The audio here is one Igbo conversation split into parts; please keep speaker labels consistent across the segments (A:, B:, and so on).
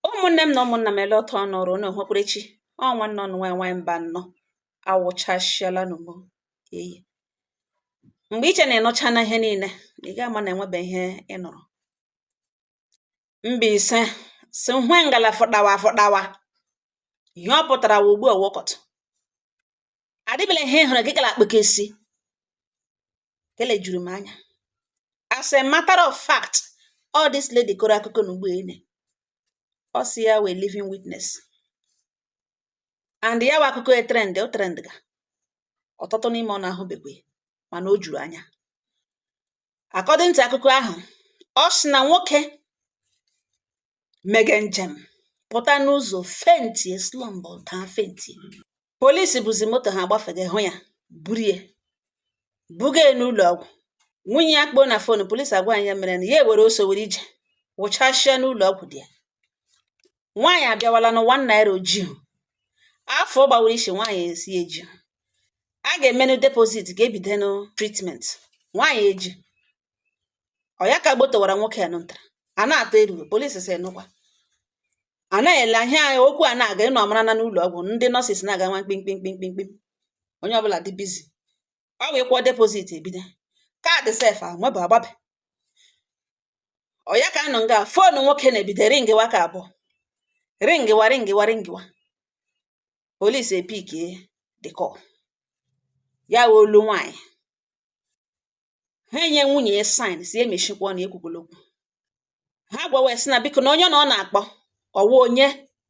A: ụmụnne m na ụmụnna m ele otu ụnụ nọrọ ụnụ hụkwara chi ọ nwanne ụnụ nwanyị nwanyị Mbano awụchasịala n'ugbo eyi mgbe i che na ị nụchana ihe niile ị ga ama na enwebe ihe ị nụrụ Mbaise sị hwe ngala fọdawa fọdawa ihe ọ pụtara wa ugbu a wokọtụ adịbela ihe hụrụ gị kala akpụkesi ke le juru m anya as a matter of fact all this lady kọrọ akụkọ na ugbo ene ọ sị ya wụ a living witness and ya wa akụkọ etrend o trendga ọtụtụ n'ime ụnụ ahụbekwe mana o juru anya according to akụkọ ahụ ọ sị na nwoke mege njem pụta n'ụzọ fentie slọmpụ daa fentie polisi buzi moto ha gbafega hụ ya burie buga ya n'ụlọ ọgwụ nwunye ya kpọọ na fon polisi agwa ya ihe mere na ya ewere ọsọ were ije wụchasịa n'ụlọ ọgwụ di ya nwaanyị abịawala na one naira o jihu afọ gbawara isi nwaanyị esi eji a ga-emenụ depozit ka ebidenụ tritment nwaanyị eji ọ ya ka a gbotowara nwoke ya nụntara a na-atọ eruru polisi sị nụkwa a na-ele ihe a okwu a na-aga ụnụ mara na n'ụlọ ọgwụ ndị nọọsis na-aga nwa mkpimkpimkpimkpim onye ọbụla dị bizi ọ wụ akwụọ depozit ebido kaadị sef amabụ agbabe ọ ya ka a nọ nga foonu nwoke na-ebido ringịwa ka abụọ ringịwa ringịwa ringịwa polis epikie the call ya wụ olu nwaanyị ha enye nwunye ya saịn sị ya mechikwa ọnụ ekwukwala okwu ha gwawa sị na biko na onye na ọ na-akpọ ọ wụ onye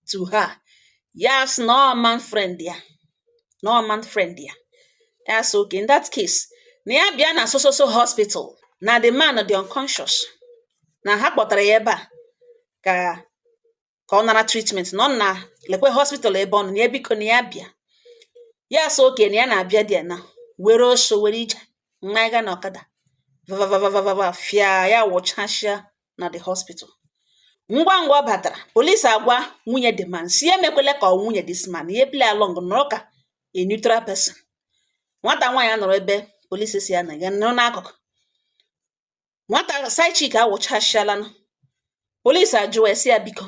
A: to her ya sị na ọ man friend ya na ọ man friend ya ya sị oke in that case na ya bịa na so so so hospital na the man dị unconscious na ha kpọtara ya ebe a ka ka ọ nara tritment na ọ na lekwe hospital ebe ọ nọ na ya biko na ya bịa ya sị oke na ya na-abịa dị ya na were ọsọ were ije maga na ọkada vavavavavava fịa ya wụchasịa na the hospital ngwa ngwa ọ batara polisi agwa nwunye the man sị ya emekwele ka ọ nwunye this man ya play along nọrọ ka a neutral person nwata nwaanyị a nọrọ ebe polisi sị ya na ya nọrọ n'akụkụ nwata side chick awụchasịala polisi ajụwa sị ya biko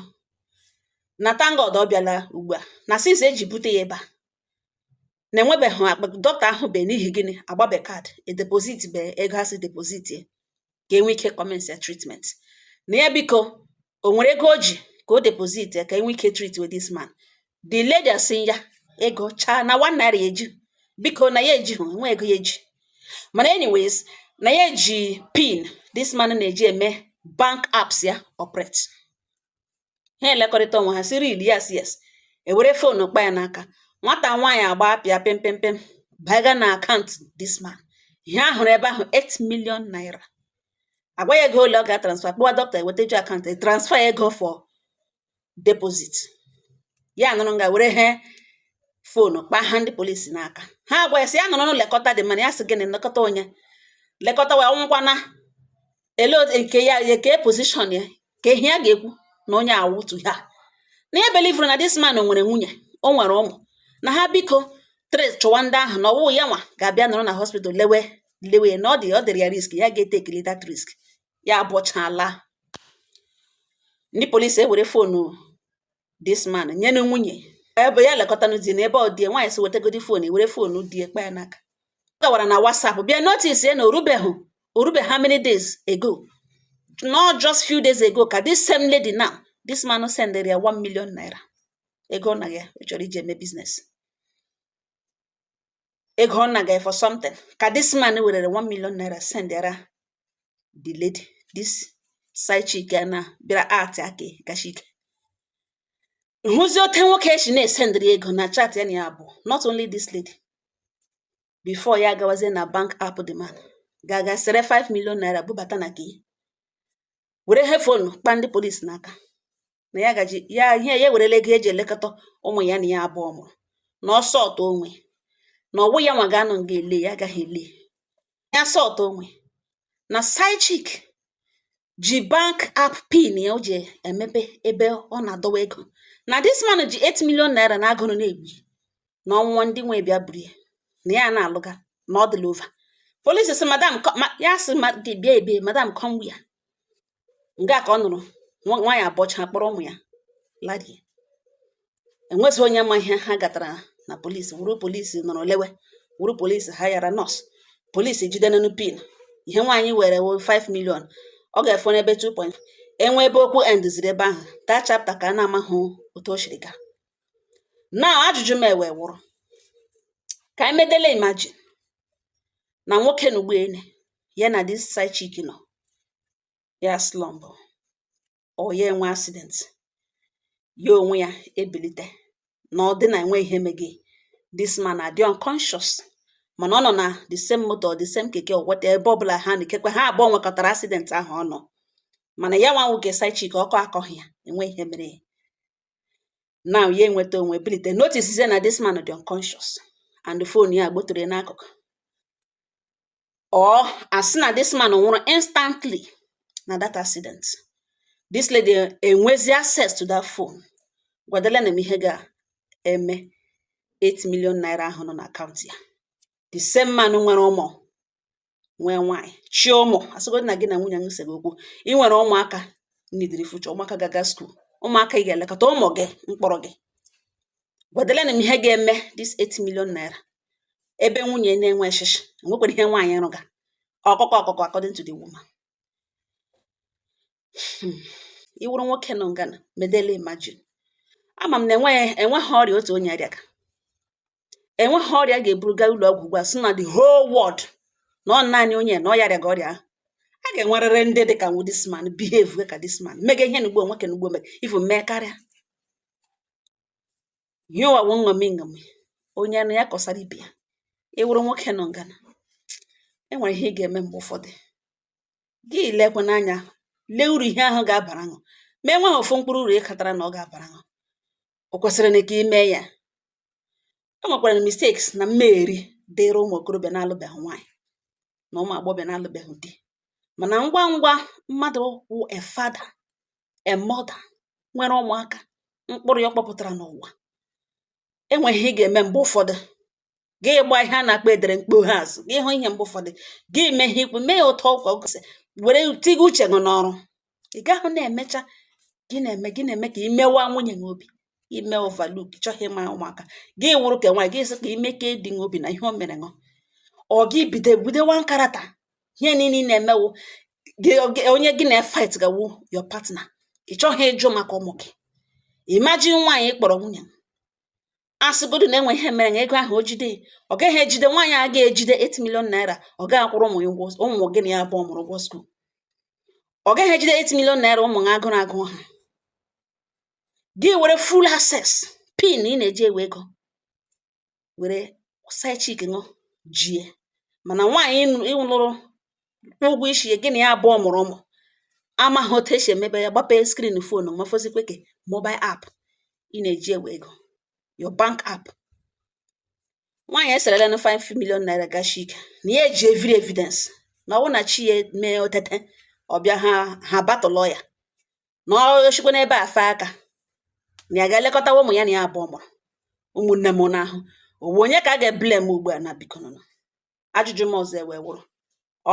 A: na thank God ọ bịala ugbu a na since eji bute ya ebe a na enwebeghị akpa dọkịta ahụbe n'ihi gịnị agbabe kaadị edepozitbe ego a sị depozitie ka enwe ike kọmensịa tritment na ya biko o nwere ego o ji ka o deposit ya ka e nwee ike treatie this man the lady asị ya ego chaa na one naira ya eji biko na ya ejihụ enwe ego ya eji mana anyways na ya eji pin this man na-eji eme bank apps ya operate ha elekọrịta onwe ha sị really yes yes ewere fon kpa ya n'aka nwata nwaanyị agba apịa pempempem baga na akaụntụ this man ihe ahụrụ ebe ahụ 8 million naira agwa ya ego ole ọ ga-transfa kpọwa dọkịta eweta ju akaụntụ e transfa ego for deposit ya nọrọ nga were he fonu kpaa ha ndị polisi n'aka ha agwa ya sị ya nọrọ lekọta the man ya sị gịnị nlekọta onye lekọtawa ọ nwụkwana ele nke ya eke pozishọn ya ka ehi a ga-ekwu na onye awụtu ha na ya belivuru na dis man nwere nwunye o nwere ụmụ na ha biko trace chọwa ndị ahụ na ọ wụhụ ya nwa ga-abịa nọrọ na hospital lewe lewe na ọ dị ọ dịrị ya risk ya ga-etekili that risk ya abọchaala ndị polisi ewere fonu dis man nyenụ nwunye ebe ya lekọtanụ di na ebe ọ dị nwaanyị sị wetegodi fon e were fon di e kpa ya n'aka ọ gawara na WhatsApp bịa notice ya na o rubeghị o rube how many days ago not just few days ago ka this same lady now this man sendere ya 1 million naira ego na ya chọrọ iji eme biznes ego ọ naga for something ka this man werere 1 million naira sendịara the lady this side chick ya na bịara art aka gachike hụzi otu nwoke e shi na-esendịrị ego na chat ya na ya abụọ not only this lady before ya agawazie na bank app the man gaa ga sere 5 million naira bubata na nke e were he fonu kpa ndị polisi n'aka na ya gaji ya ihe ya ewerela ego eji elekọta ụmụ ya na ya abụọ mụrụ na ọ sọtụ onwe na ọ wụ ya nwa ga-anọ nga ele ya agaghị ele ya sọtụ onwe na side chick ji bank app pin ya o ji emepe ebe ọ na-adọwa ego na dis man ji 8 million naira na agụrụ na-egbu na ọ nwụwa ndị nwe bịa buru ya na ya na-alụga na ọ dịla over polisi sị madam ya sị bịa ebe madam come where nga ka ọ nọrọ nwaanyị abọcha kpọrọ ụmụ ya larie enwezi onye ma ihe ha gatara na polisi wụrụ polisi nọrọ lewe wụrụ polisi haịara nọọsụ polisi jide nenu pin ihe nwaanyị were 5 million ọ ga-efu n'ebe 2 point enwe ebe okwu endiziri ebe ahụ that chapter ka a na-amahụ otu o siri gaa now ajụjụ m nwe wụrụ ka anyị medele imajin na nwoke na ụgbọelu ya na dis side chick nọ ya slump or ya enwe accident ya onwe ya ebilite na ọ dị na enwe ihe mege this man adị unconscious mana ọ nọ na the same motor the same keke or whatever ebe ọbụla ha na ikekwe ha abụọ nwekọtara accident ahụ ọ nọ mana ya nwa wụ nke side chick ọkọ akọghị ya enwe ihe mere ya now ya enweta onwe bilite notice na this man dị unconscious and the phone ya gbotoro ya n'akụkụ or asị na this man nwụrụ instantly na that accident this lady enwezi access to that phone gwadela na m ihe ga-eme 8 million naira ahụ nọ na akaụntụ ya the same man nwere ụmụ nwee nwaanyị chị ụmụ asịgodị na gị na nwunye nwesịrị okwu ị nwere ụmụaka nidiri future ụmụaka ga-aga school ụmụaka ị ga-elekọta ụmụ gị mkpụrụ gị gwadela na m ihe ga-eme this 8 million naira ebe nwunye na-enwe shishi enwekwara ihe nwaanyị rụga ọkụkọ ọkụkọ according to the woman hmm. ị wụrụ nwoke nọ ngana medele imagine ama m na enweghị enweghị ọrịa otu onye rịaga enweghị ọrịa ga-eburu gaa ụlọ ọgwụ ugbu a sị na the whole world na ọ naanị onye na ọ ya rịaga ọrịa ahụ a ga-enwerịrị ndị dị ka nwu this man behave ka this man mega ihe n'ugbo nwoke n'ugbo mee even mee karịa ihe ụwa wụ nṅomi nṅomi onye nụ ya kọsara ibe ya ị wụrụ nwoke nọ ngana e nwere ihe ị ga-eme mgbe ụfọdụ gị lekwe n'anya lee uru ihe ahụ ga-abara ṅụ ma e nweghị ofu mkpụrụ uru ị katara na ọ ga-abara ṅụ o kwesịrị na ka ime ya e nwekwara mistakes na mmegheri dịịrị ụmụ okorobịa na-alụbeghị nwaanyị na ụmụ agbọghọbịa na-alụbeghị di mana ngwa ngwa mmadụ wụ a father a mother nwere ụmụaka mkpụrụ ya ọ kpọpụtara n'ụwa enwe ihe ị ga-eme mgbe ụfọdụ gị gba ihe a na-akpọ edere mkpoghe azụ gị hụ ihe mgbe ụfọdụ gị mee ihe ikwu mee ya ụtọ ụkwa gosị were tiga uche gị n'ọrụ ị gaghị na-emecha gị na-eme gị na-eme ka imewa nwunye gị obi ime overlook chọghị ịma ụmụaka gị wụrụ ka nwaanyị gị sị ka ime ka ịdị gị obi na ihe o mere ṅụ ọ gị bido budewa nkarata ihe niile ị na-eme wụ onye gị na-efight ga wụ your partner ị chọghị ịjụ maka ụmụ gị imagine nwaanyị kpọrọ nwunye asịgodu na enwe ihe mere na ego ahụ o jide ọ gaghị ejide nwaanyị a ga-ejide 8 million naira ọ gaghị akwụrụ ụmụ ya ụgwọ ụmụ gị na ya abụọ mụrụ ụgwọ school ọ gaghị ejide 8 million naira ụmụ ha agụrụ agụ ha gị were full access pin ị na-eji ewe ego were side chick ṅụ jie mana nwaanyị ị lụrụ kwụọ ụgwọ isi ya gị na ya abụọ mụrụ ụmụ amaghị otu esi emebe ya gbapee screen foonu ma fọzikwe ke mobile app ị na-eji ewe ego your bank app nwaanyị eserela na 5 million naira gashi ike na ya eji every evidence na ọ wụ na chi ya mee o tete ọ bịaha abata ụlọ ya na ọ chịkwa n'ebe a fee aka na ya ga-elekọtawa ụmụ ya na ya abụọ mụrụ ụmụnne m n'ahụ ọ wụ onye ka a ga-eblame ugbu a na biko nụ ajụjụ m ọzọ ewee wụrụ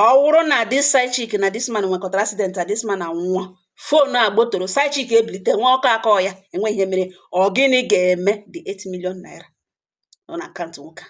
A: ọ wụrụ na this side chick na this man nwekọtara accident a this man anwụọ foonu agbọtọrọ side chick ebilite nwa ọkọ akọ ya enweghị ihe mere ọ gịnị ga-eme the 8 million naira nọ na akaụntụ nwoke a